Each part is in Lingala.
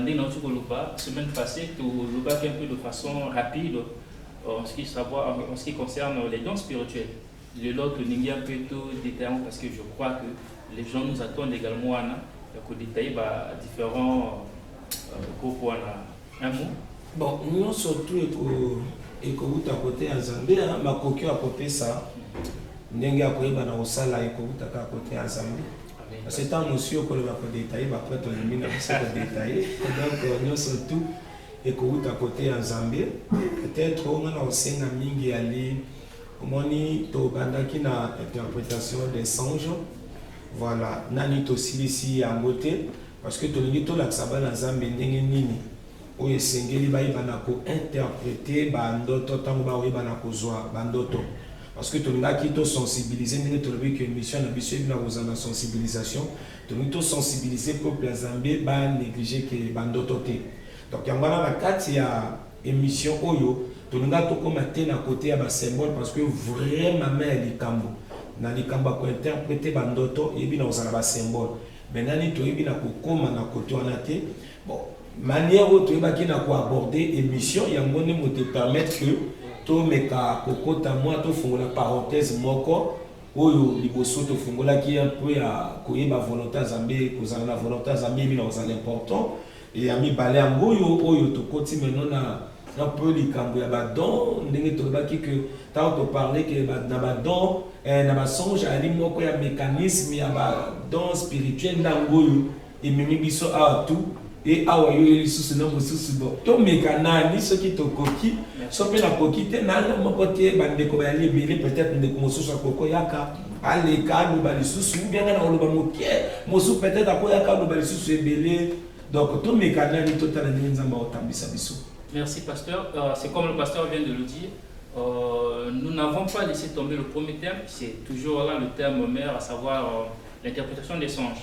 Ndenge nauti koloba semaine passee, tolobaki un peu de façon rapide en ce qui savoir en ce qui concerne les dons spirituels. Lelo tolingi un peu to detailler yango parce que je crois que les gens nous attendent également wana ya ko detailler ba differents groupes wana. Un mot? Bon, nionso tout eko ekowuta kote ya Nzambe, makoki oyo akopesa ndenge ya koyeba na kosala ekowuta kaka kote ya Nzambe. Kasi ntango osi okoloba kodetaye baprete olembi na biso kodetaye donc euh, nyonso tout ekowuta kote ya nzambe peut-être nga na kosenga mingi yali omoni tobandaki na interprétation des songes voilà nani tosilisi yango te parce que tolingi tolakisa bana nzambe ndenge nini Oyo esengeli bayeba na ko interpreter ba ndoto tango ba oyeba na kozua ba ndoto parce que tolingaki to sensibiliser ndenge tolobi que mission na biso ebina kozala na sensibilisation tolingi to sensibiliser peuple ya zambe ba negliger que ba ndoto te donc yango wana na kati ya emission oyo tolinga tokoma te na kote ya ba symbole parce que vrai mama ya likambo na likambo ya ko interpreter ba ndoto ebina kozala ba symbole mais nani toyebi na kokoma na kote wana te bon Manière oyo toyebaki na ko aborder emission yango nde moto e permettre que tomeka kokota mwa tofongola parenthèse moko oyo liboso tofungolaki un peu ya koyeba volonté ya Nzambe kozala na volonté ya Nzambe yebi na kozala important et ya mibale yango oyo oyo tokoti maintenant na un peu likambo ya badon ndenge tolobaki que ntango toparle ke na badon eh, na basonge ali moko ya mécanisme ya badon spirituel ntango oyo Ememi biso awa tu e awa yo lisusu na mosusu bo tomeka nani soki tokoki so mpe nakoki te nana moko te bandeko bayali ebele peut-être ndeko mosusu akoko yaka aleka aloba lisusu ou bien na oloba moke mosusu peut-être akoyaka aloba lisusu ebele donc tomeka nani totala ndenge nzambe akotambisa biso merci pasteur uh, c'est comme le pasteur vient de le dire Euh, nous n'avons pas laissé tomber le premier thème, c'est toujours là le thème mère, à savoir euh, l'interprétation des songes.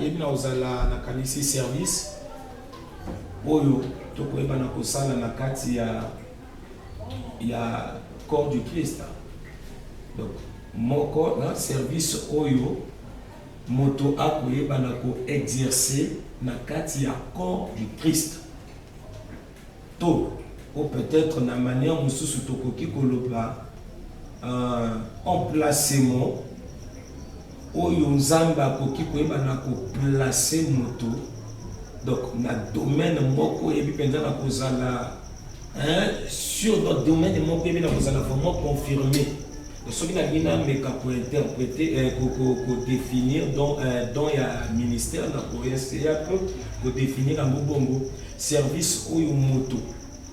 Yebi na ozala na kanisi service oyo tokoyeba na kosala na kati ya ya corps du Christ. Donc moko na service oyo moto akoyeba na ko exercer na kati ya corps du Christ. To, o peut-etre na manière mosusu tokoki koloba euh, emplacement oyo Nzambe akoki koyeba na koplace moto donc na domaine moko eyebi mpenza na kozala sur domaine moko eyebi na kozala vraiment confirme soki nalingi nameka kointerprete eh, kodefinir don eh, ya ministère na koesea mpe kodefinir yango bongo service oyo moto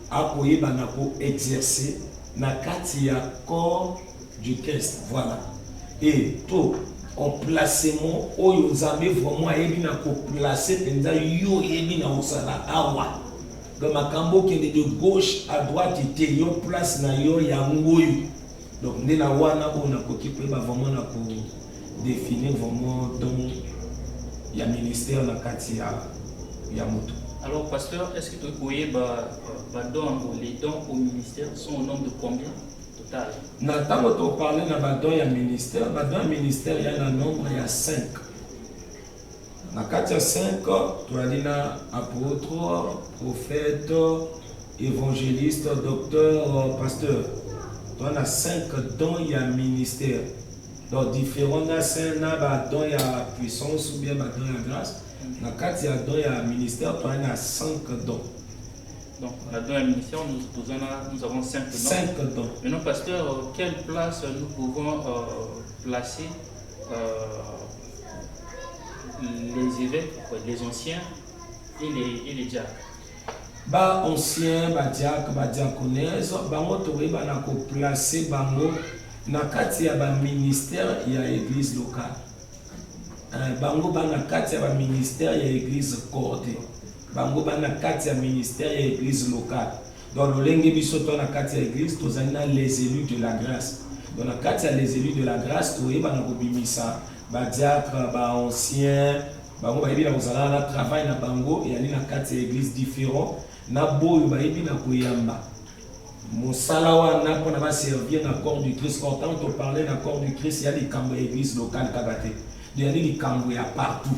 akoyeba na koexerce na kati ya corps du christ voilà e to emplacement oyo nzambe vraiment ayebi na koplace mpenza yo oyebi na osala awa makambo okende de gauche à droite te yo place na yo yango oyo Donc nde na wana oyo nakoki koyeba vraiment na ko définir vraiment don ya ministère na kati ya ya moto. Alors pasteur, est-ce que tokoki koyeba ba dons yango les dons au ministère sont au nombre de combien total? Na ntango toparle na ba dons ya ministère, ba dons ya ministère ya na nombre ya 5. Na kati ya 5 toyali na apotre, prophète, evangeliste, docteur, pasteur. Toyali na 5 dons ya ministère. Donc différents na saint na ba dons ya puissance ou bien ba dons ya grâce. Na kati ya dons ya ministère toyali na 5 dons. Donc, la dans la ministère, nous, nous, en a, nous avons cinq dons. Cinq dons. Maintenant, pasteur, quelle place nous pouvons euh, placer euh, les évêques, les anciens et les, et les diacres. Ba anciens, ba diacres, ba diaconesses, bango toyebana ko placer bango na kati ya ba ministères ya église locale. Euh, bango bana kati ya ba ministères ya église cordée. Bango bana kati ya ministère ya église locale. Donc lolenge biso to na kati ya eglise tozali na les élus de la grâce. Donc na kati ya les élus de la grâce toyebana kobimisa ba diacre ba ancien bango bayebi na kozala na travail na bango eyali na kati ya eglise différent na boyo bayebi na koyamba mosala wana mpona baservir na corps du christ pourtant toparle na corps du christ ya likambo ya eglise locale kaka te eyali likambo ya partout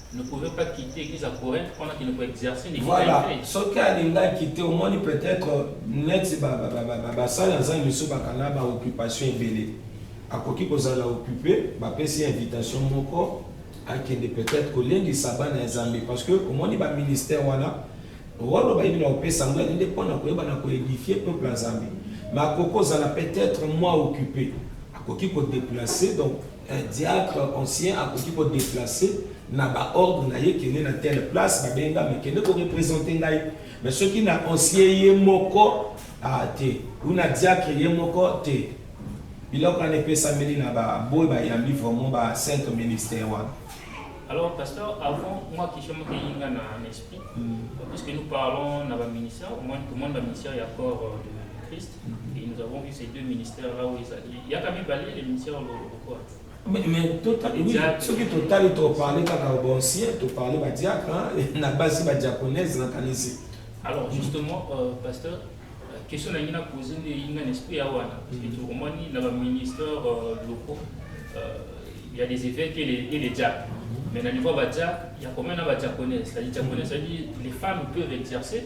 ne pouvait pas quitter qu'ils à Corinthe pendant qu'il ne peut exercer ni voilà soki alingaki te omoni peut-être neti basali aza misu bakanga baoccupation ebele akoki kozala occupe bapesi invitation moko akende peut-être kolendisa bana ya zambe parce que omoni baministère wana wano bayebi na kopesa yango yali nde mpo na koyeba na koedifie peuple ya zambe makoki ozala peut-être moi occupe akoki kodeplace donc Un diacre ancien akoki ko deplacer na ba ordre na ye kende na telle place ba benga me kende ko representer ngai mais soki na ancien ye moko ah te ou na diacre ye moko te biloko wana epesameli na ba boy bayambi vraiment ba sainte ministère wana Alors, pasteur, avant, moi qui suis Mokéinga dans l'esprit, mm. puisque nous parlons dans le ministère, au moins tout le monde dans le ministère, il y a corps euh, de Christ. Et nous avons vu ces deux ministères là où ezali yaka mibale le ministère ya lokola Mais, mais tota, oui, Diacre. soki totali toparle kaka bancien toparle badiacre hein, na basi badiaconese nakanisi Alors justement, euh, pasteur, euh, question na ngina posé nde inga n'esprit ya wana. Parce que tokomani na ba ministères euh, locaux, euh, il y a des évêques et les, et les diacres. Mais na niveau ba diacres, il y a combien na ba diaconais C'est-à-dire diaconais, c'est-à-dire les femmes peuvent exercer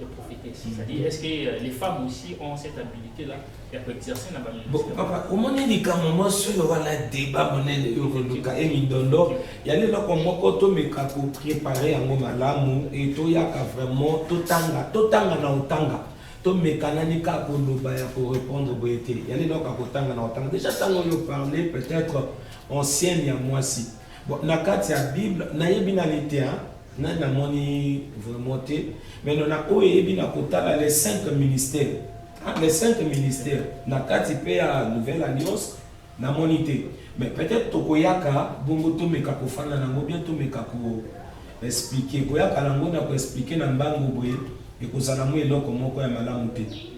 de profiter. Mm. C'est-à-dire, est-ce que euh, les femmes aussi ont cette habilité là ya koexercer na bapapa omoni likambo mwasi oyo wana deba monene oyo koluka ye mindondo ya leloko moko tomeka koprepare yango malamu e toyaka vraiment totanga totanga na otanga tomekanani kaka koloba ya korépondre boye te ya leloko akotanga na otanga déjà ntango oyo parle peut-être ancienne ya mwasi bon na kati ya bible nayebi nani te Nani amoni vraiment te mais non na oyo eyebi na kotala les cinq ministères ah, les cinq ministères na kati mpe ya nouvelle alliance namoni te mais peut-être tokoyaka bongo tomeka kofanda nango bien tomeka ko expliquer koyaka nango na koexpliquer na mbangu boye ekozala mwa eloko moko ya malamu te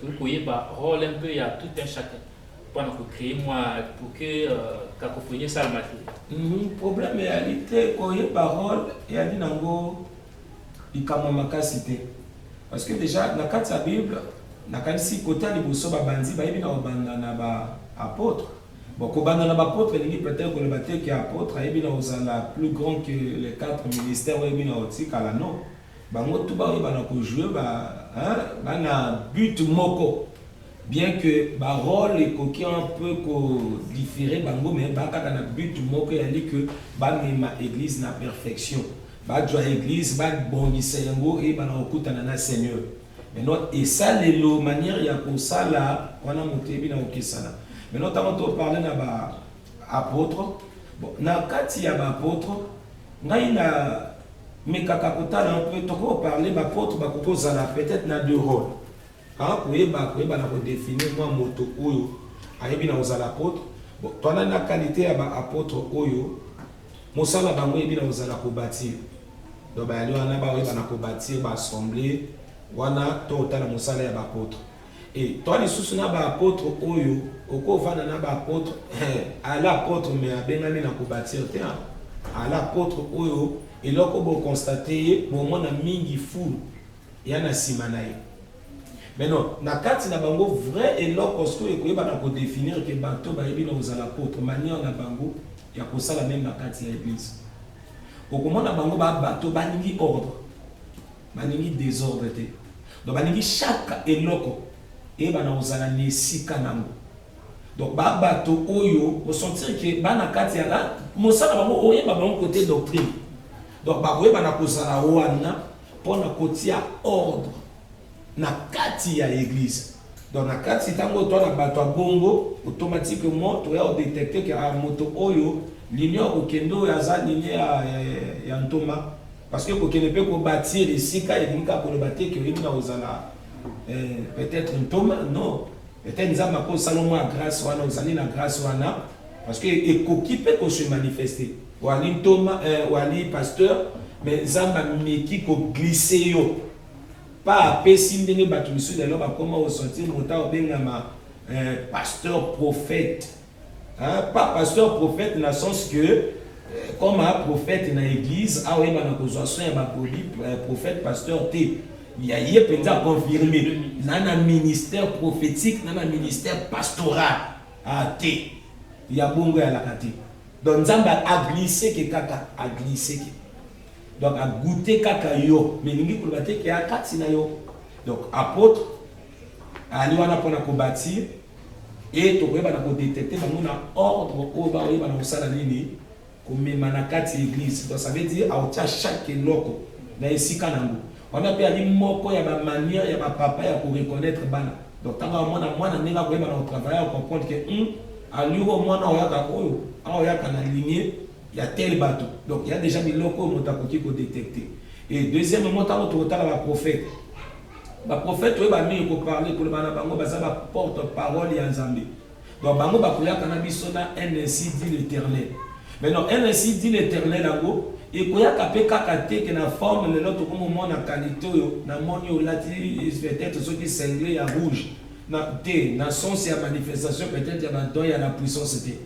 Tokoki koyeba role un peu ya tout un chacun mpo na ko creer mwa pour que cacophonie esalama te. Problème eyali te koyeba role eyali nango likambo ya makasi te parce que dejà na kati ya bible nakanisi cote ya liboso babanzi bayebi na kobanda na ba apotres Bon, kobanda na bapotre elingi peut-être koloba te ke apotre ayebi na kozala plus grand que les quatre ministères oyo eyebi na kotikala non Bango tout ba yebana ko jouer ba hein ba na but moko bien que ba role ekoki un peu ko differer bango mais ba kaka na but moko eyali que ba mema eglise na perfection ba jua eglise ba bongisa yango eyebana ko kutana na seigneur maintenant esalelo manière ya kosala wana moto eyebi na kokesana maintenant tango to parler na ba Apotre, bon na kati ya ba apotre ngai na mekaka kotala un peu toko parler ba apotre ba koko zala peut-être na deux rôles hein koyeba koyeba na ko définir moi moto oyo ayebi na kozala apotre bon toana na qualité ya ba apotre oyo mosala bango eyebi na kozala ko bâtir donc bayali wana ba oyeba na ko bâtir ba assemblée wana to otala mosala ya ba apotre Et toi lisusu na ba apotres oyo oko vanda na ba apotres eh ala apotres mais abengami na ko batir te hein ala apotres oyo eloko bo constate ye bo mona mingi foule ya na sima na ye mais non na kati na bango vrai eloko sikoyo ekoyeba na ko definir ke bato ba yebi na kozala apotres manière na bango ya kosala meme na kati ya eglise okomona bango ba bato balingi ordre Balingi desordre te. Donc balingi chaque eloko eyebana kozala na esika nango. Donc ba bato oyo osentir ke bana kati ya la mosala bango oyeba bango kote doctrine. Donc bakoyebana kozala wana mpo na kotia ordre na kati ya eglise. Donc na kati ntango oyo twana bato ya bongo automatiquement toya odetecte ke moto oyo linie ya kokende oyo aza linie ya, ya, ya, ya ntoma Parce que kokende pe ko batir esika elingi kaka koloba te ke oyebi na kozala peut-etre ntoma non peut-etre nzambe akosala yo mwa grace wana ozali na grace wana parce que ekoki pe ko se manifester oali ntoma oali pasteur mais nzambe ameki ko glisser yo pa apesi ndenge bato misusu lelo bakoma ko sentir moto abengama pasteur prophète Hein pas pasteur prophète na sens que comme un prophète na église awa yeba na kozwa soin ya ba poli prophète pasteur te ya ye penza confirmer na na ministère prophétique na na ministère pastoral ah te ya bongo ya laka te donc nzambe a glisser ke kaka a glisser ke donc a goûter kaka yo mais lingi koloba te ke a kati na yo donc apôtre ali wana pona ko bâtir Et tokoyeba na ko detecter bango na ordre oyo bakoyeba na kosala nini komema na kati ya eglise. Donc ça veut dire aotia chaque eloko na esika nango. Wana pe ali moko ya ba manière ya ba papa ya ko reconnaître bana. Donc tango amona mwana ndenge akoyeba na ko travailler ako comprendre que hum allure oyo mwana oyo ayaka oyo awa ayaka na lignee ya tel batu. Donc il ya dejà biloko oyo moto akoki ko detecter. Et deuxièmement tango tokotala ba prophètes Ba prophète oyo ba mingi ko parler koloba na bango baza ba porte parole ya Nzambe. Donc bango bakoyaka na biso na NSI dit l'éternel. Mais non NSI dit l'éternel yango ekoyaka pe kaka te que na forme lelo tokomo mona qualité oyo na moni olati peut-être soki cingle ya rouge na te na sens ya manifestation peut-être ya ba don ya la puissance te.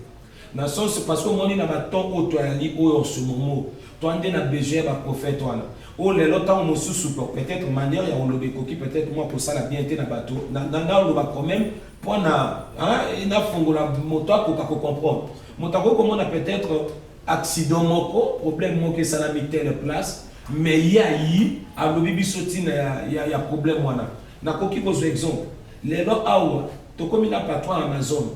Na sens parce que omoni na ba temps oyo toyali oyo en ce moment toi nde na besoin ya ba prophète wana oyo lelo tango mosusu peut etre manière ya koloba ekoki peut etre mua kosala bien te na batu na na naloba quand meme po na hein na fongola moto akoka ko comprendre moto akoki komona peut etre accident moko problème moko esalami telle place mais ye ayi alobi biso tina ya ya ya problème wana nakoki kozua exemple lelo awa tokomi na patron ya amazone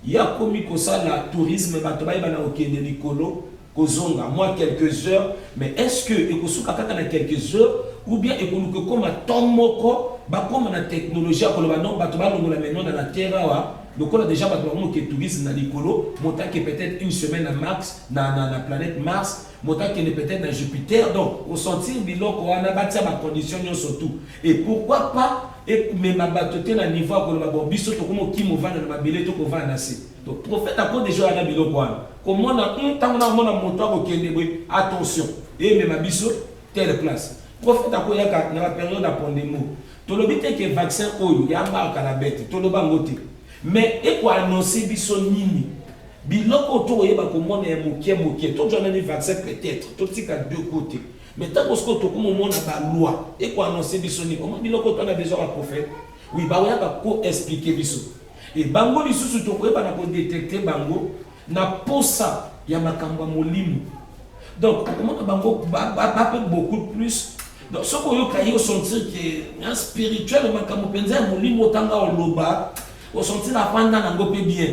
Ya komi kosala tourisme bato bayeba na kokende likolo kozonga mwa quelques heures mais est ce que ekosuka kaka na quelques heures ou bien ekoluka ekoma temps moko bakoma na technologie ya koloba non bato balongola maintenant na la terre awa lokola dejà bato bakomi ke tourisme na likolo moto ake peut être une semaine na max na, na, na planète mars moto akende peut être na jupiter donc osentir biloko wana batia bacondition nyonso tout et pourquoi pas ekomema bato te na niveau ya koloba bon biso tokomi kokima ovanda na mabele to kovanda na se donc prophète ako deja oya na biloko wana komona hum, ntango nakomona moto akokende boye attention emema biso tele place prophète akoyaka na baperiode ya pondemo tolobi te ke vaccin oyo ya marka na bete toloba yango te mais ekoannonce biso nini biloko oyo tokoyeba komona ya moke moke tozwa nani vaccin peut-être totika deux cote Mais tango sikoyo tokomomona ba loi eko annonce biso nini omoni biloko to na besoin ba prophète oui bakoyaka ko expliquer biso e bango lisusu tokoyeba na kodetecte bango na posa ya makambo ya molimo donc okomona bango bape beaucoup plus donc soki oyoka ye osentir ke na spirituel makambo mpenza ya molimo otanga oloba osentir afanda nango mpe bien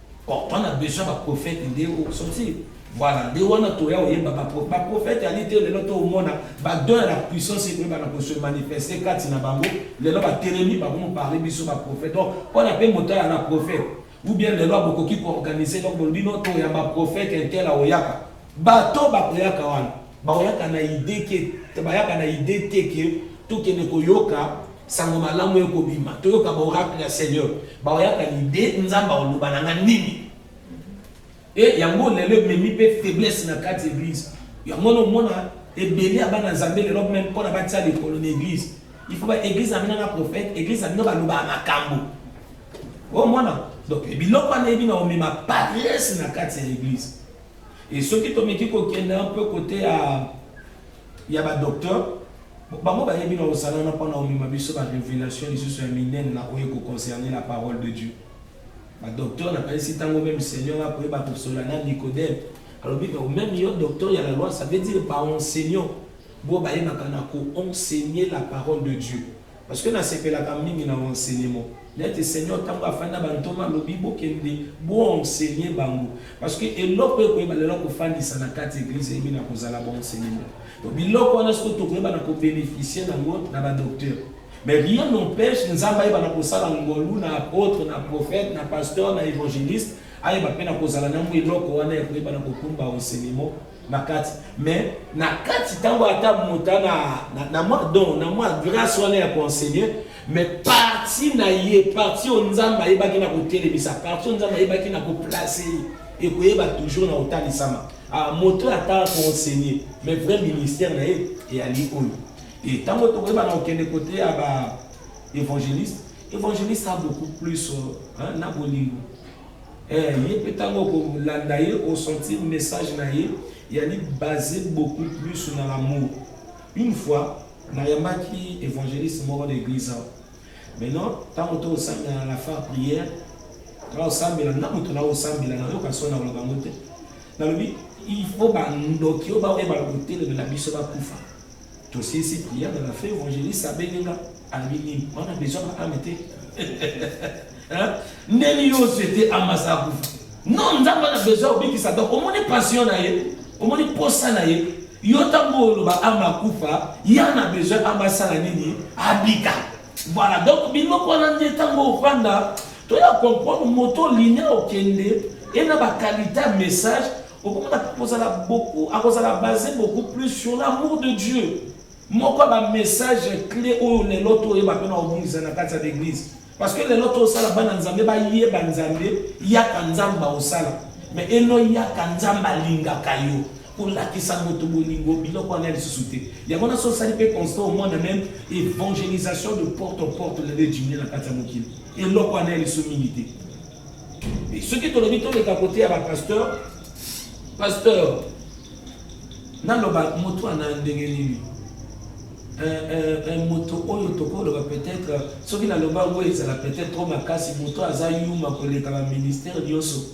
Pourtant na besoin ba prophète nde o sortir. Voilà, nde wana toya oyemba ba prophète. Ba prophète ali te lelo to omona ba don ya la puissance et ba na ko se manifester kati na bango. Lelo ba telemi ba komo parler biso ba prophète. Donc, on a pe moto ya la prophète. Ou bien lelo abokoki ko organiser donc bolobi no to ya ba prophète intel aoyaka. Bato bakoyaka wana bakoyaka na idee ke bayaka na idee te ke tokende koyoka sango malamu ekobima toyoka ba oracle ya seigneur bakoyaka na idee nzambe akoloba na nga nini e yango lelo ememi mpe faiblesse na kati eglise yango nomona ebele ya bana nzambe lelo meme mpona batia likolo na eglise il faut ba eglise na bino na prophète eglise na bino balobaka makambo omona donc biloko wana eyebi na omema parese na kati ya eglise Et soki tomeki kokende un peu côté ya ya ba docteur bango bayebi na kosala na mpona omema biso ba révélation lisusu ya minene na oyo ekoconcerne la parole de dieu badocteur nakanisi ntango meme seigneur akoyeba kosola na nicodème alobi meme yo docteur ya la loi ça veut dire baenseignant bo bayebaka na koenseigne la parole de dieu Parce que nasepelaka mingi na enseignement. Neti Seigneur tango afandi na bantoma alobi bokende bo enseigner bango. Parce que eloko ekoyeba lelo kofandisa na kati eglise eyebi na kozala ba enseignement. Donc biloko wana siko tokoyeba na ko beneficier na ngo na ba docteur. Mais rien n'empêche Nzambe ayeba na kosala ngolu na apôtre, na prophète, na pasteur, na évangéliste ayeba pe na kozala na ngo eloko wana ya koyeba na kokumba enseignement na kati mais na kati ntango ata mota na, na, na mwa don na mwa grâce wana ya koenseigne mais parti na ye parti oyo nzambe ayebaki na kotelemisa parti oyo nzambe ayebaki na koplace ye ekoyeba toujours na kotalisama ah, moto ata koenseigne mais vrai ministère na ye eyali oyo e ntango tokoyeba na kokende kote ya ba évangéliste évangéliste a beaucoup plus euh, hein, na bolingo Eh ye pe tango oko landa ye o sentir message na ye eyali base beaucoup plus na l'amour. Une fois na yambaki evangeliste moko na eglise awa. Maintenant tango to sambela na la phare prière na osambela na moto na osambela na yoka sona koloba ngo te. Nalobi il faut ba ndoki oyo ba oyeba kotelemela biso ba kufa. Tosilisi prière na feu evangeliste abengi nga alobi nini? Wana besoin na ame te. Ndeni yo ozete amasa akufa. Non, Nzambe na besoin obikisa donc omoni passion na ye, omoni posa na ye. Yo ntango oloba ama akufa, ya na besoin ama asala nini? Abika. Voilà, donc bino kwana nde ntango ofanda toya comprendre moto linia okende ena bakalite ya message okomona kozala beaucoup akozala base beaucoup plus sur l'amour de dieu moko ya bamessage clé oyo lelo toyeba mpe na kobongisa na kati ya l'église parce que lelo tosala bana nzambe bayeba nzambe yaka nzambe baosala mais eno yaka nzambe alingaka yo kolakisa moto bolingo biloko wana lisusu te yango na sosali mpe constant omona meme évangélisation de porte en porte lelo edimine na kati ya mokili eloko wana ya liso mingi te Et ce qui tolobi to leka côté ya ba pasteur pasteur naloba moto ana ndenge nini moto oyo tokoloba peut-être soki naloba yango ezala peut-être trop makasi moto aza yuma koleka ba ministère nyonso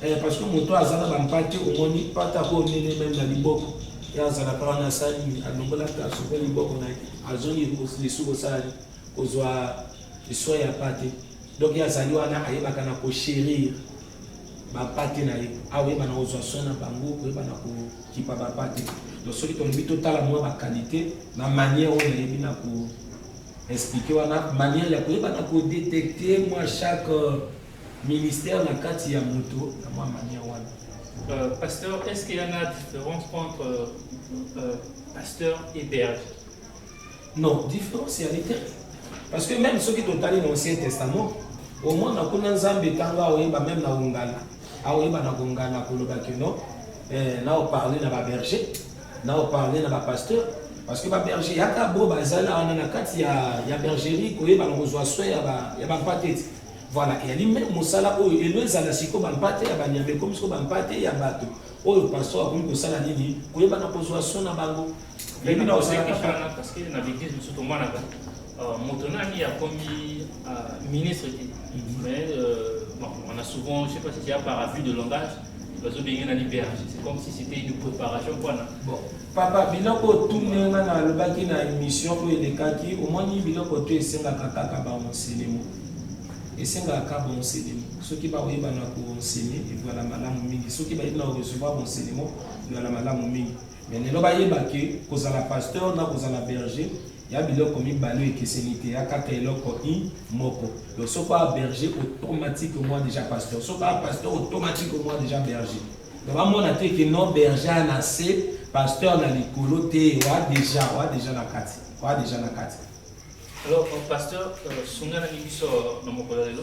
eh, parce que moto aza na bampate omoni mpate ako onene meme na liboko ye azalaka wana asali alongolaka soki liboko na ye azongi lisusu kosala kozwa liswa ya mpate Donc ye azali wana ayebaka na ko cherir ba pate na ye awa oyeba na kozwa soin na bango koyeba na kokipa ba pate donc soki tolobi totala mwa ba qualité na manière oyo nayebi na ko expliquer wana manière ya koyeba na kodetecte mwa chaque euh, ministère na kati ya moto na mwa manière wana euh, pasteur est ce qu'il y en a différence entre euh, euh, pasteur et berge Non, différence ya lite. Parce que même soki totali na Ancien Testament, au moins na kuna Nzambe ntango aoyeba même na ongala, aoyeba na kongala koloba que non, eh, na oparle na baberger, na oparle na bapasteur, parce que baberger yaka bo bazali wana na kati ya, ya bergerie koyeba na kozwa soin ya bampate te voilà eyali meme mosala oyo elo ezala siko bampate ya banyama ekomi siko bampate ya bato oyo pasteur akomi kosala nini koyeba na kozwa soin na bango Yebi na osekaka parce que na bidis mosusu tomonaka euh, moto nani akomi euh, ministre te mhm. mais euh, bon, on a souvent je sais pas si c'est par avis de langage bazobenge na liberge c'est comme si c'était une préparation mpona bon papa biloko otunde nga na alobaki na émission oyo elekaki omoni biloko to esengaka kaka baenselemo esengaka kaka baenselemo soki bakoyeba na koensene evala malamu mingi soki bayebi na korecevoir baenselemo evala malamu mingi Mais lelo bayeba ke kozala pasteur na kozala berger ya biloko mibale ekeseni te ya kaka eloko i moko donc soki oa berger automatiquement déjà pasteur soki oa pasteur automatiquement déjà berger donc bamona te ke non berger a na se pasteur na likolo te oa déjà oa déjà na kati oa déjà na kati alors pasteur euh, sunganaki biso na mokolo lelo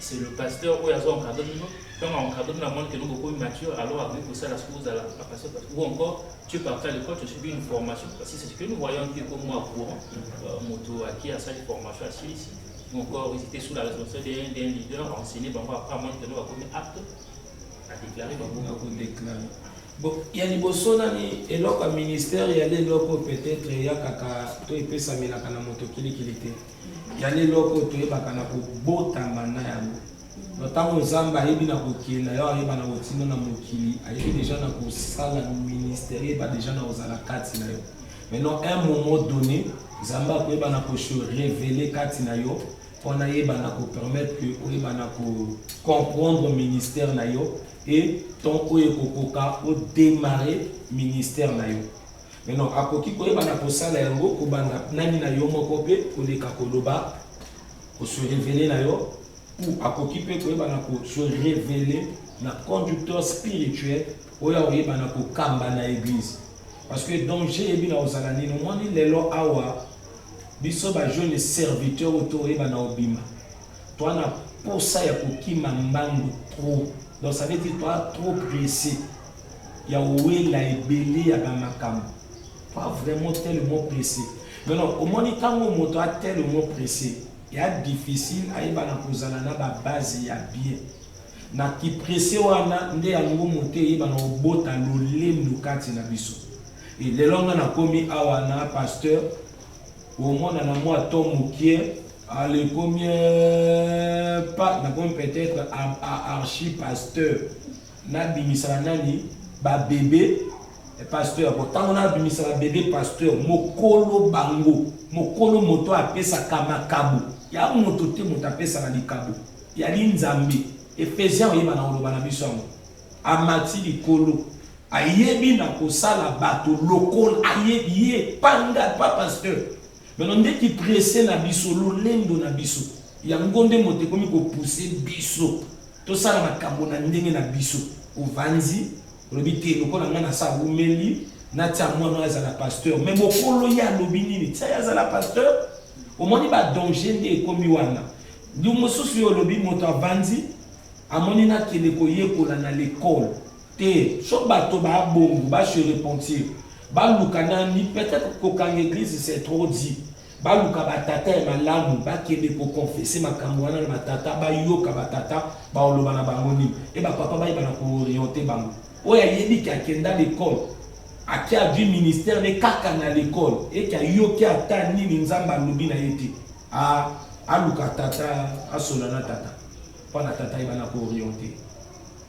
c'est le pasteur oyo azo encadre bino ntango encadre bino amoni keno bokomi mature alors akoki kosala soki ozala bapasteur ou encore tu es parti à l'école tu as subi une formation parce que c'est ce que nous voyons que comme moi courant euh, moto aki asali formation asilisi ou encore ils étaient sous la responsabilité d'un leader enseigné bango après amoni keno bakomi apte à déclarer bango bakodéclare bon ya liboso nani eloko ya ministère ya lelo oyo peut-être eyakaka to epesamelaka na moto kilikili te Yani eloko toyebaka na kobotama na yango na ntango nzambe ayebi na kokenda yo ayeba na kotinda na mokili ayebi deja na kosala ministère yeba deja na kozala kati na yo maintenant un moment donné nzambe akoyeba na kose révele kati na yo mpona ayeba na kopermettre que oyeba na kocomprendre ministère na yo e temps oyo ekokoka odemarre ministère na yo Maintenant, akoki koyeba na kosala yango kobanda nani na yo moko mpe koleka koloba kosurevele na yo ou akoki mpe koyeba na kosurevele na conducteur spirituel oyo akoyeba na kokamba na eglise parce que danger eyebi na kozala nini omoni lelo awa biso bajeune serviteur oyo toyeba na obima toa na mposa ya kokima mbangu trop donc ça veut dire toa trop pressé ya owela ebele ya ba makambo pas vraiment tellement pressé non non omoni ntango moto a tellement pressé ya difficile ayebana kozala na ba base ya bien na kipresse wana nde yango moto eyebana obota lolendo kati na biso e lelo nga nakomi awa na pasteur omona na mwa to mokie alekomi pa nakomi peut-être archi pasteur Na bimisaka nani ba bebe pasteur bon tango na bimisaka bebe pasteur mokolo bango mokolo moto apesaka makabo ya moto te moto apesaka likabo yali nzambe efesian oyeba na koloba na biso yango amati likolo ayebi na kosala bato lokola ayebi ye panga pa pasteur meno nde kiprese na biso lolendo na biso yango nde moto ekomi kopuse biso tosala makambo na ndenge na biso ovanzi olobi te lokola ngai nasa awumeli natia mwana oyo azala pasteur me mokolo ye alobi nini tia ye azala pasteur omoni badanger nde ekomi wana ndi mosusu yo olobi moto avandi amoni nakende koyekola na lekole te so bato babongo base repentir baluka nani peut-être kokanga eglise c'est trop dit Baluka ba tata ya malamu bakende ko confesser makambu wana na ba tata bayoka ba tata baoloba na bango nini et ba papa bayeba na ko orienter bango. Oyo ayebi ke akenda l'ecole ake adwi ministère ne kaka na l'ecole et ke ayoki ata nini nzambe alobi na ye te aluka tata asola na tata pona tata ayeba na ko orienter.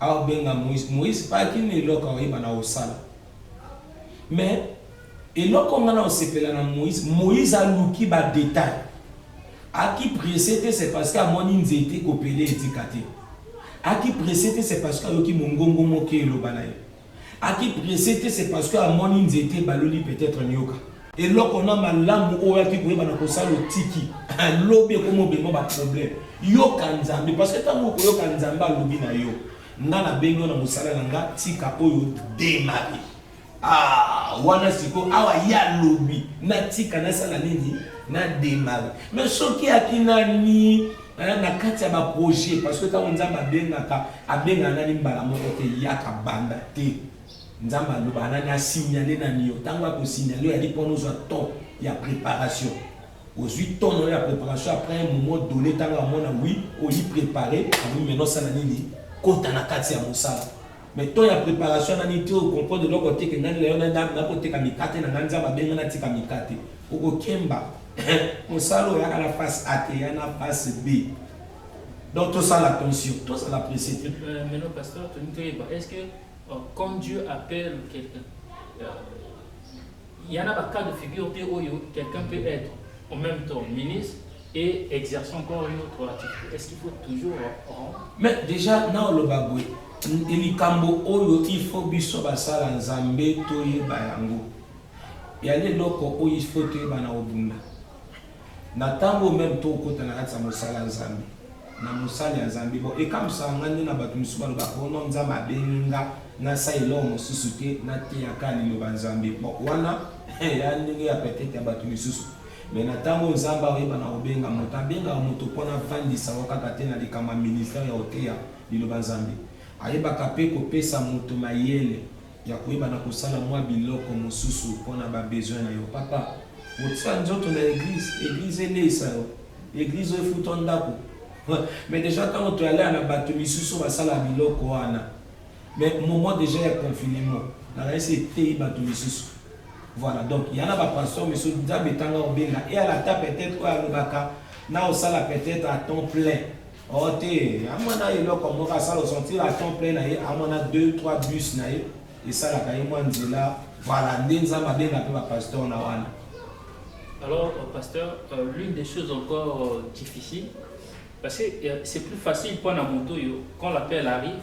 Azo benga Moïse Moïse pas kin eloko oyeba na osala mais eloko nga na osepela na Moïse Moïse aluki ba detail aki presse te c'est parce que amoni nzete kopele etika te aki presse te c'est parce que ayoki mongongo moke eloba na ye Aki presse te c'est parce que amoni nzete ebaloli peut-être nioka. Eloko na malamu oyo aki koyeba na kosala otiki. Lobi ekomi obengwa ba problème. Yoka Nzambe parce que tango okoyoka Nzambe alobi na yo. Nga na bengi yo na mosala na nga tika oyo demari. Ah, wana siko awa ye alobi natika nasala nini na demari. Mais soki aki nani eh, na kati ya baprojet parce que ntango nzambe abengaka abengaka nani mbala moko te yaka banda te nzambe alobaka nani asignale nani yo ntango akosignale yo yali mpona ozwa temps ya préparation ozwi temps na yo ya préparation après un moment donné ntango amona wi oyi préparé awi maintenant osala nini kota na kati ya mosala Mais temps ya preparation nani ti o comprendre eloko te que ngai na yo na nako teka mikate na ngai nzambe abenga na tika mikate oko kemba mosala oyo yaka na face A te ya na face B donc to sala attention to sala presse te euh, mais non pasteur toni toyeba est-ce que euh, quand Dieu appelle quelqu'un euh, Il y en a ba cas de figure te oyo quelqu'un peut être en même temps ministre et exercer encore une autre activité. Est-ce qu'il faut toujours rendre Mais déjà na oloba boye likambo oyo il faut biso basala nzambe toyeba yango yali eloko oyo il faut toyeba na obunda Na tango meme to kota na kati ya mosala ya Nzambe, na mosali ya Nzambe, bon ekamwisaka nga nde na bato misusu ba lobaka oh non Nzambe abengi nga na sala eloko mosusu te, na teya kaka liloba ya Nzambe. Bon wana eya ndenge ya peut etre ya bato misusu. Mais na tango oyo Nzambe akoyeba na kobenga moto, abengaka moto po na vandisa yango kaka te na likambo ya ministère ya koteya liloba ya Nzambe. Ayebaka pe kopesa moto mayele. ya koyeba na kosala mwa biloko mosusu mpo na ba besoin na yo papa otia nzoto na eglise eglise eleisa yo eglise oyo efutwa ndako mais deja ntango toyalea na bato misusu basala biloko wana mais moment deja ya confinement nakanisi eteyi bato misusu voilà donc ya na bapasteur misusu nzambe etanga obenga e alata peut-être oyo alobaka na osala peut-être à temps plein Oh te, amona eloko moko asala osentir à temps plein na ye, amona 2 3 bus na ye esalaka ye mwa nzela. Voilà, nde Nzambe abenga mpe ba pasteur na wana. Alors, euh, pasteur, euh, l'une des choses encore euh, difficiles, parce que euh, c'est plus facile pour un moto, quand l'appel arrive,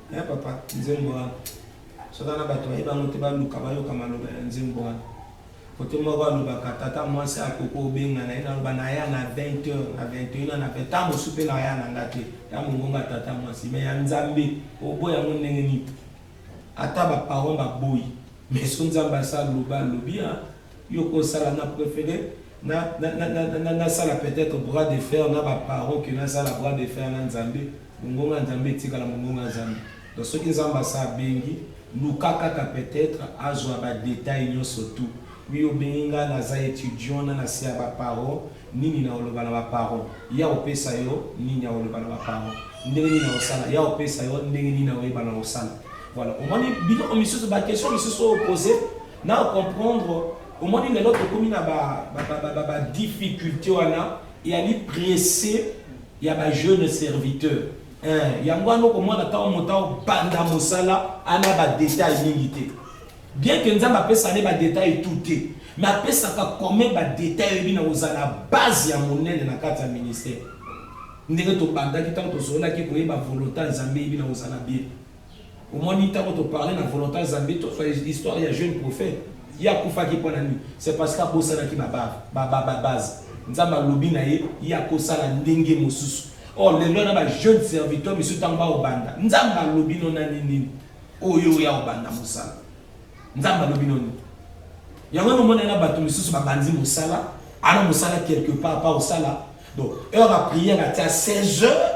Eh papa, nzembo wana soki wana bato bayebi yango te baluka bayoka maloba ya nzembo wana kote moko alobaka tata mwasi akoki obenga na ye naloba naya na 20 heure na 21 na pe ntango mosusu mpe naya na nga te ya mongonga tata mwasi me ya nzambe oboya yango ndenge nini ata baparent baboyi meso nzambe asaloba alobi yo ko sala na prefere na sala peut etre bras de fer na ba parents que na sala bras de fer na nzambe mongongo ya nzambe etikala mongongo ya nzambe donc soki nzambe asa abengi luka kaka peut etre azwa ba detail nyonso tout wi obengi nga naza etudiant na nase ya ba parents nini na oloba na ba parents ya opesa yo nini ya oloba na ba parents ndenge nini na osala ya opesa yo ndenge nini na oyeba na osala voilà omoni biloko misusu ba question misusu oyo pose Nao comprendre omoni lelo tokomi na ba ba ba ba ba, ba difficulté wana eyali presse ya ba jeunes serviteurs eh, yango wana okomona ntango moto aobanda mosala ana ba detail mingi te bien que nzambe apesa ne ba detail tout te mais apesaka comme ba detail eyebi na kozala base ya monene na kati ya ministère ndenge tobandaki ntango tozolaki koyeba volonté ya nzambe eyebi na kozala bien omoni ntango toparle na volontaire zambi tozwa histoire ya jeune prophète ye akufaki mpo na nini c'est parce que abosanaki babase nzambe alobi na ye ye akosala ndenge mosusu or lelo wana bajeune serviteur misusu ntango baobanda nzambe alobi no na ninini oyo oya obanda mosala nzambe alobi no nini yango wana omona na bato misusu babandi mosala ana mosala quelque part pa osala donc heure ya prière atia 16 heures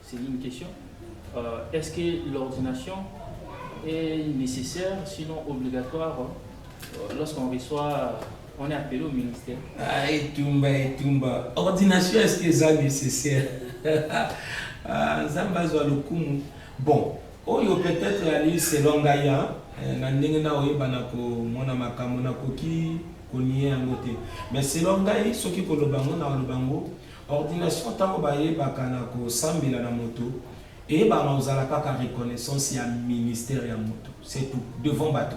C'est une question. Euh, Est-ce que l'ordination est nécessaire, sinon obligatoire, euh, lorsqu'on reçoit, on est appelé au ministère Ah, et Tumba, et Tumba. Ordination, est-ce que ça est nécessaire ah, Zamba Zoualoukoum. Bon, oyo peut-être ali selon ngai hein, eh, na ndenge na oyebana komona makambo nakoki konie yango te mais selon ngai soki koloba yango na koloba yango Ordination tango bayebaka na kosambela na moto eyebaka na kozala kaka reconnaissance ya ministère ya moto c'est tout devant bato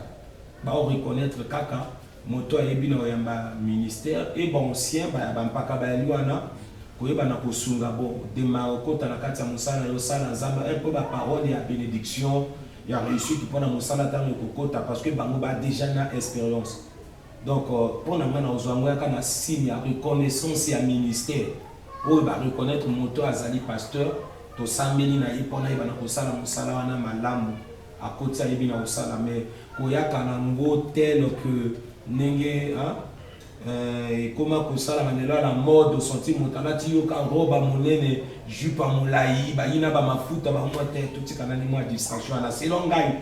bao reconnaître kaka moto ayebi na oyamba ministère et ba ancien ba bampaka bayali wana koyeba na kosunga bo dema okota na kati ya mosala yo sala nzambe un peu ba parole ya bénédiction ya réussite mpona mosala ntango ekokota parce que bango ba déjà na expérience Donc pona nga na ozua ngo yaka na signe ya reconnaissance ya ministère oyo ba reconnaitre moto azali pasteur tosambeli na ye pona ayebana kosala mosala wana malamu akoti ayebi na kosala mais koyaka na ngo tel que ndenge hein Euh, ekoma kosalama lelo na mode osanti moto alati yoka roba monene jupe ya molai bayina bamafuta bango te totika nani mwa distraction wana selon ngai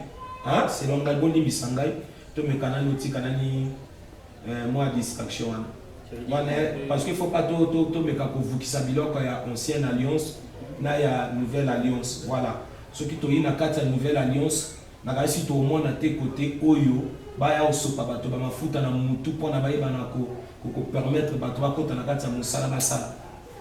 selon ngai bolimbisa ngai To meka nanu tika nani eh, mwa distraction wana. Wana parce que faut pas to to to meka ko vukisa biloko ya ancienne alliance na ya nouvelle alliance. Voilà. Soki to yina kati ya nouvelle alliance na kasi to mona te kote oyo ba ya osopa bato ba mafuta na mutu pona ba yeba na ko ko permettre bato ba kota na kati ya musala ba sala.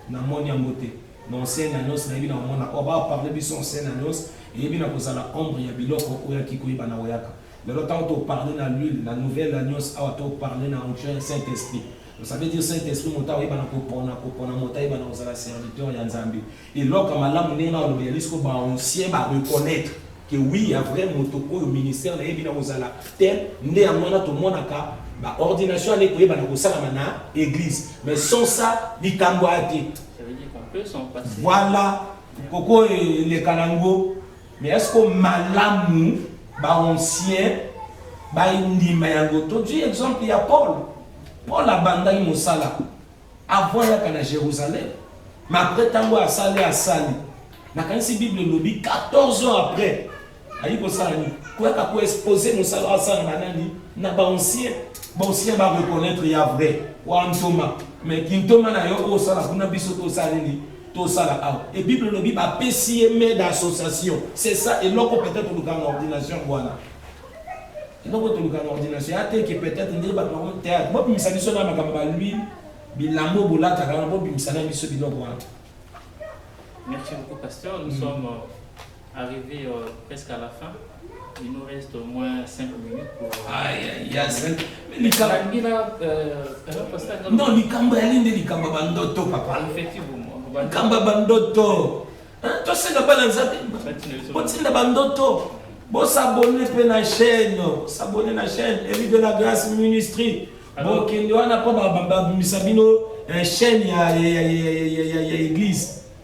Na moni yango te. Na ancienne alliance na yebi na mona o ba parler biso ancienne alliance eyebi na kozala ombre ya biloko oyo akiko yeba na oyaka. Lelo tango to parler na l'huile na nouvelle alliance awa to parler na onction ya Saint Esprit. Ça veut dire Saint Esprit moto ayebana kopona kopona moto ayebana kozala serviteur ya Nzambe. Eloko ya malamu ndenge na olobi yali siko ba anciens ba reconnaitre que oui ya vrai moto oyo ministère na ye bina kozala tel nde yango wana tomonaka ba ordination ya ndeko yebana kosalama na église mais sans ça likambo ate. Ça veut dire qu'on peut s'en passer. Voilà koko elekana ngo Mais est-ce que malamu ba ancien ba indima yango to du exemple ya Paul Paul abandaki mosala avant yaka na Jérusalem mais après tango asali asali nakanisi Bible elobi 14 ans après ayi kosala nini koyaka ko exposer mosala asala na nani na ba ancien ba ancien ba reconnaître ya vrai wa ntoma mais kintoma na yo osala kuna biso tosala nini tosala awa et bible elobi ba pesi ye main d'association c'est ça eloko peut-être oluka na ordination wana eloko toluka na ordination ya teke peut-être nde bato bango théâtre bobimisa biso na makambo ba lui bilambo bolataka wana bobimisa na biso biloko wana merci beaucoup pasteur nous mm. sommes euh, Arrivé euh, presque à la fin, il nous reste au moins 5 minutes pour. Aïe, aïe, aïe, 5 minutes. Non, likambo ya linde likambo bandoto papa. Effectivement. Likambo bandoto. Hein, toi c'est la balance. Botinda bandoto. Bon s'abonner pe na chaîne, s'abonner na chaîne Élie de la Grâce Ministry. Bon kende wana po ba ba misa bino chaîne ya ya ya ya ya église.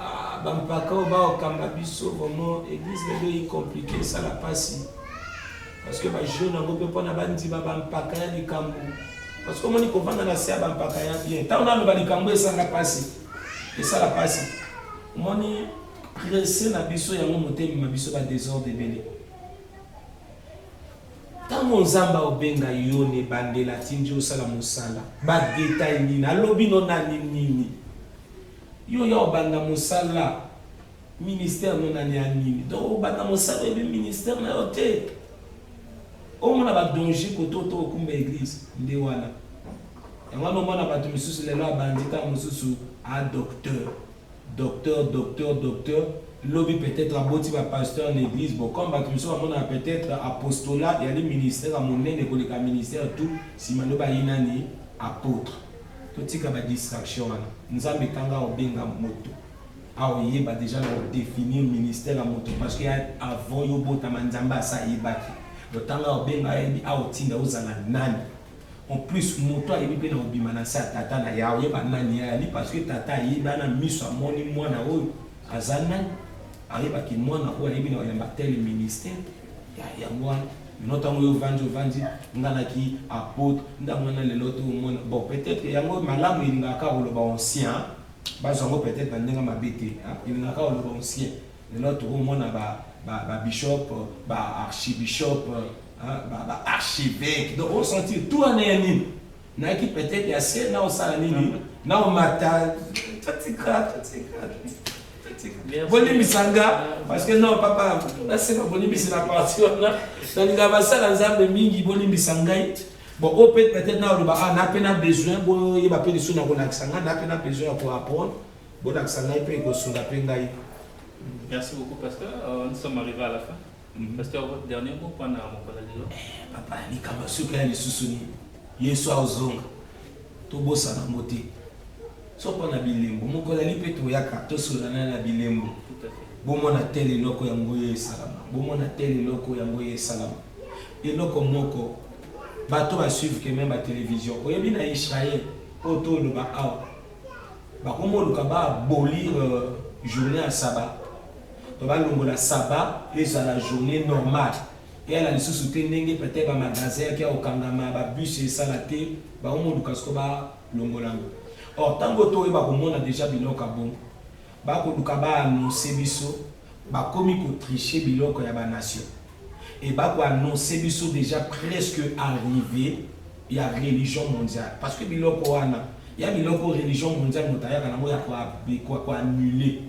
Ah, bampaka oyo baokanga biso vraiment eglise lelo eyi compliqué esala mpasi parce que bajeune yango mpe mpona bandima bampaka ya likambo parce que omoni kovanda na se ya bampaka ya bien ntango naloba likambo esanga mpasi esala mpasi omoni presse na biso yango motemema biso badesordre ebele ntango nzambe aobenga yo na ebandela atindi osala mosala badetail nini alobi no nani nini Yo ya obanda mosala ministère no nani ya nini donc obanda mosala oyebi ministère na yo te omona ba danger kote oto okumba eglise nde wana yango wana omona bato misusu lelo abandi ntango mosusu a docteur docteur docteur docteur lobi peut-être aboti ba pasteur na eglise bo comme bato misusu bamonaka peut-être apostolat yali ministère ya monene koleka ministère tout nsima lobi ayi nani apôtre Totika ba distraction wana. Nzambe kanga obenga moto a oyeba deja na o definir ministère ya moto parce que avant yo obotama Nzambe asi ayebaki yo tanga obenga ayebi a otinda ozala nani en plus moto ayebi pe na obima na nse ya tata na ya oyeba nani ya yali parce que tata ayebi ana miso amoni mwana oyo aza nani ayebaki mwana oyo ayebi na oyamba tele ministère yango wana bino ntango oyo ovandi ovandi nga naki apote ntango wana lelo to omona bon peut-être yango malamu elingaka koloba ancien bazwa yango peut-être na ndenge mabe te elingaka koloba ancien lelo tokomona babishop baarchibishop baarchevêque donc osentir tout wana ya nini Nike peut-être ya se na osala nini na omata totika totika bolimbisa nga parce que non papa nasema bolimbisi na parti wana nalinga basala nzambe mingi bolimbisa ngai bon oyo mpe peut-être na oloba ah na mpe na besoin boyeba mpe lisusu na kolakisa ngai na mpe na besoin ya koapprendre bolakisa ngai mpe ekosunga mpe ngai merci beaucoup pasteur euh, nous sommes arrivés à la fin Mhm. Pasteur, votre dernier mot pour na mokola lelo. Eh, papa, ni kama suka ya lisusu ni. Yesu azonga. To bosa na mbote. So pona bilembo, mokola lipe to yaka, to solana na bilembo. Tout à fait. Bomo na tele loko ya ngoye salama. Bomo na tele loko ya ngoye salama. Et loko moko, bato ba suivre que même la télévision. Au y'a bien Israël, auto le ba awa. Bakomo le kaba abolir euh, journée à sabbat. Donc balongola saba pe ezala journee normale eyala lisusu te ndenge peut etre ba magasin ake ya kokangama ba bus esala te bango moluka sikoyo ba longola yango or tango to yeba komona deja biloko ya bongo ba koluka ba annonce biso bakomi ko tricher biloko ya ba nation et ba ko annonce biso deja presque arrive ya religion mondiale parce que biloko wana ya biloko religion mondiale moto ayaka nango ya ko annuler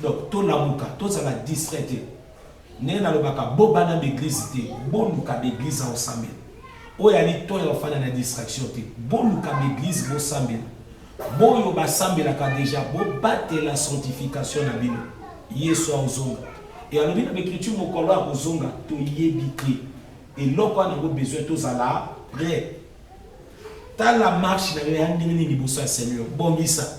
Donc to lamuka to zala distrait te. Ndenge nalobaka bo bana b'eglise te, boluka b'eglise ya osambela. Oyo ali to ya ofanda na distraction te. Boluka b'eglise bosambela. Boyo basambelaka deja bobatela sanctification na bino. Yesu aozonga. E alobi na b'ecriture mokolo akozonga toyebi te. Eloko wana yango besoin tozala prêt. Tala marche na yo ya ndenge nini liboso ya Seigneur. Bongisa.